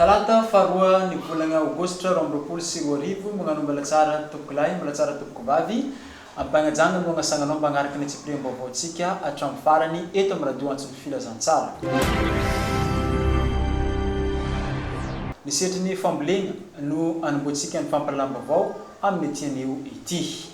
Talata faharoa ny volana aogositra roa amby roapolo sy roa arivo, Magnano Mbalatsara tompoko lahy, Mbalatsara tompoko vavy, Ampanajana no agnasagnanao mbagnaraka ny antsipiriam-baovaontsika hatramin'ny farany eto amin'ny Radio Antso ny Filazantsara. Ny sehatry ny fambolena no anombohantsika ny fampahalalam-baovao amin'ity anio ity.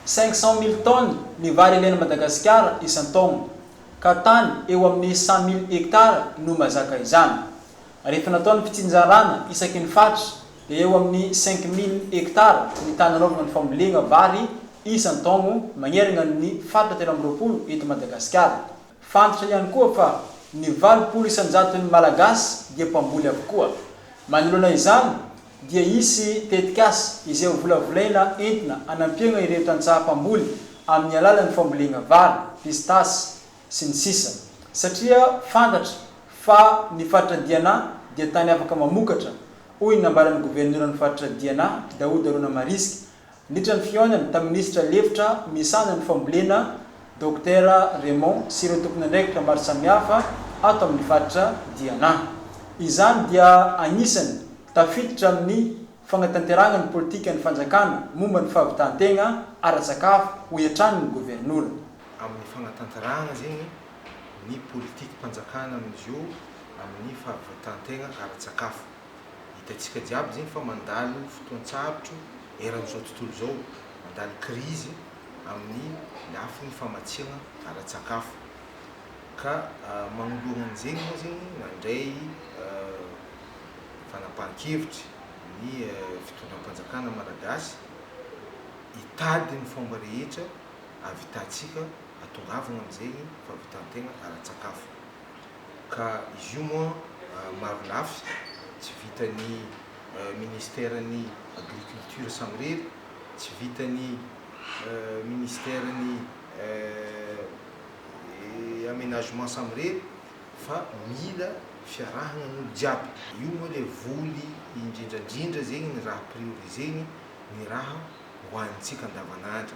Cinq cent mille tonnes ny vary ilain'i Madagasikara isan-taona, ka tany eo amin'ny cent mille hectares no mazaka izany. Rehefa natao ny fitsinjarana isaky ny faritra dia eo amin'ny cinq mille hectares ny tany anaovana ny fambolena vary isan-taogno magnergna ny faritra telo amby roapolo eto Madagasikara. Fantatra ihany koa fa ny valopolo isan-jaton'ny Malagasy dia mpamboly avokoa. Manoloana izany dia hisy tetikasa izay hovolavolaina entina hanampiagna ireo tantsaha mpamboly amin'ny alalan'ny fambolena vary, pistasy, sy ny sisa satria fantatra fa ny faritra Diana dia tany afaka mamokatra, hoy ny nambaran'ny governoran'ny faritra Diana, Daouda Ronamarisque, Niditra ny fihaonana tamin'ny minisitra lefitra misahana ny fambolena, Dokotera Raymond sy ireo tompon'andraikitra maro samihafa ato amin'ny faritra Diana. Izany dia anisany tafiditra amin'ny fagnatanterahagna ny politikan'ny fanjakana momba ny fahavitan-tegna ara-tsakafo, hoy hatrany ny governora. Amin'ny fagnatanterahagna zegny ny politikam-panjakana amin'izio amin'ny fahavitan-tegna ara-tsakafo. Hitantsika jiaby zegny fa mandalo fotoan-tsarotro eran'izao tontolo izao, mandalo krizy amin'ny lafiny famatsiagna ara-tsakafo. Ka magnoloagna an'izegny moa zegny nandray fanapahan-kevitry ny fitondram-panjakana malagasy hitady ny fomba rehetra ahavitantsika, ahatongavagna amin'izegny fahavitan-tegna ara-tsakafo. ka izy io moa maro lafy tsy vitan'ny ministeran'ny agriculture samirery, tsy vitan'ny ministeran'ny amenagement samirery fa mila fiarahagnan'olo jiaby. Io moa le voly indrindrandrindra zegny ny raha prioriseny ny raha hohanintsika andavanandro.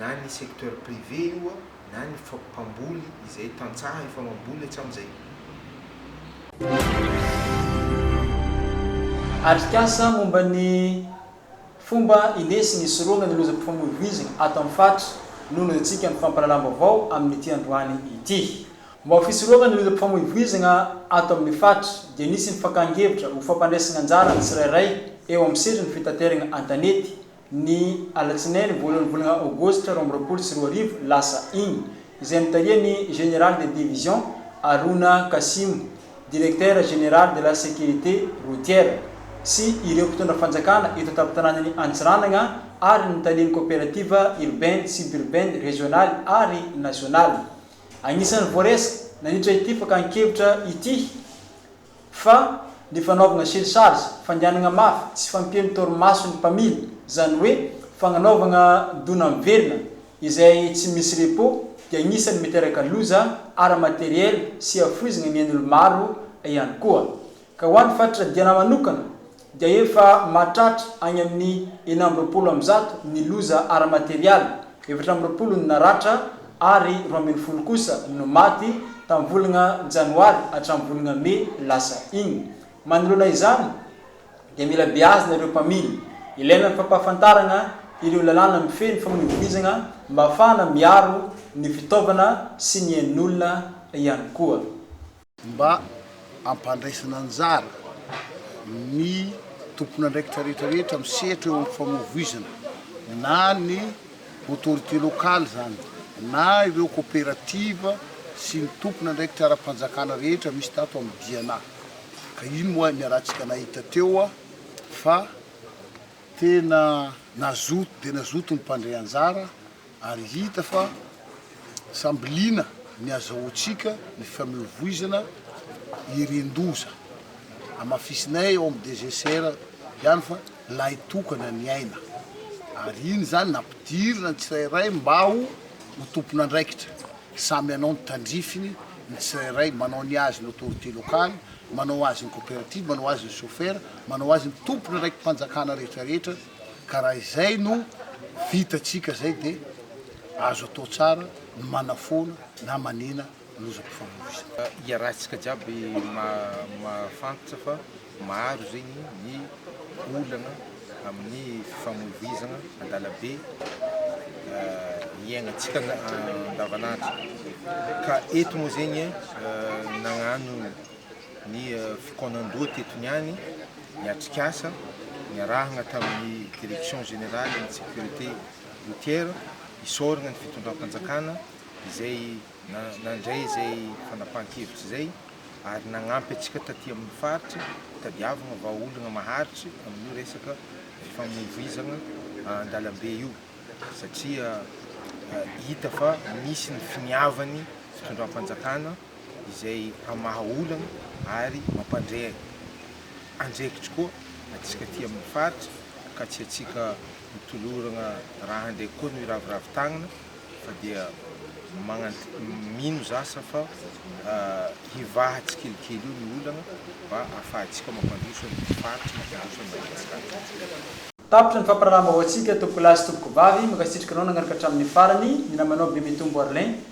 na ny secteur privé io na ny mpamboly izay tantsaha efa mamboly hatramin'izay. Atrikasa momba ny fomba indesy nisorohana ny lozam-pifamoivoizana ato amin'ny faritra no noezahantsika ny fampahalalam-baovao amin'ity androany ity. Momba ny fisorohana ny lozam-pifamoivoizana ato amin'ny faritra dia nisy ny fakàn-kevitra ho fampandraisana anjara ny tsirairay eo amin'ny sehatry ny fitaterana an-tanety ny alatsinainy voalohan'ny volana aogositra roa amby roapolo sy roa arivo lasa iny, izay notarihan'ny Général de Division Haruna Kassimo, Directeur Général de la Sécurité Routière, sy ireo mpitondra fanjakana eto an-tampon-tanànan'i Antsiranana ary ny talen'ny Coopérative Urbaine Suburbaine Régionale ary Nationale. Anisan'ny voaresaka nandritra ity fakan-kevitra ity, Fa ny fanaovana chelchage, fangianana mafy, tsy fampian'ny torimaso ny mpamily, izany hoe fagnanaovagna dona miverina izay tsy misy repos dia agnisan'ny miteraka loza ara-materiel sy hafoizagna ny ain'olo maro ihany koa. Ka ho an'ny fatratra dianà manokana, dia efa mahatratra any amin'ny enina amby roapolo amin'ny zato ny loza ara-materialy, efatra amby roapolo no naratra ary roa ambin'ny folo kosa no maty tamin'ny volana janoary hatramin'ny volana mey lasa iny. Manoloana izany dia mila beazina ireo mpamily. Ilaina ny fampahafantarana ireo lalàna mifehy ny famoivoizana mba hahafahana miaro ny fitaovana sy ny ain'olona ihany koa. mba hampandraisana anjara ny tompon'andraikitra rehetra rehetra misehatra eo amin'ny famoivoizana na ny autorité locale izany na ireo coopérative sy ny tompon'andraikitra ara-panjakana rehetra misy tato amin'ny Diana ka iny moa niarahantsika nahita teo fa tena nazoto dia nazoto ny mpandray anjara ary hita fa samby liana ny azahoantsika ny fameovoizana irin-doza. Hamafisinay ao amin'ny DGCR ihany fa lahy tokana ny aina, ary iny izany nampidirina ny tsirairay mba ho ho tompon'andraikitra, samy hanao ny tandrifiny ny tsirairay, manao ny azy ny autorité locale, manao azy ny coopérative, manao azy ny chauffeur, manao azy ny tompon'andraiki-panjakana rehetrarehetra, ka raha izay no vitantsika izay dia azo atao tsara ny manafoana na manena ny lozam-pifamoivoizana. Iarahantsika jiaby mahafantatra fa maro zegny ny olana amin'ny fifamoivoizana an-dalabe iaignantsika andavanandro ka eto moa zegny nagnano ny fikaonandoha teto niany ny atrikasa niarahagna tamin'ny Direction Générale ny Sécurité Routière isaoragna ny fitondram-panjakana izay nandray izay fanapahan-kevitry izay ary nagnampy antsika taty amin'ny faritry hitadiavagna vahaolagna maharitry amin'io resaka fifamoivoizagna an-dalambe io satria hita fa misy ny finiavan'ny fitondram-panjakana izay hamaha olana ary mampandre andraikitry koa antsika aty amin'ny faritra ka tsy antsika mitolorana raha handray koa no hiraviravy tagnana fa dia magnant- mino za sa fa hivaha tsikelikely eo ny olana mba ahafahantsika mampandroso an'ny faritra, mampandroso an'i Madagasikara. Tapitra ny fampirahalahambaoantsika Tompokolahy sy Tompokovavy, mankasitraka anao nagnaraka hatramin'ny farany, ny namanao Bemitombo Arlin,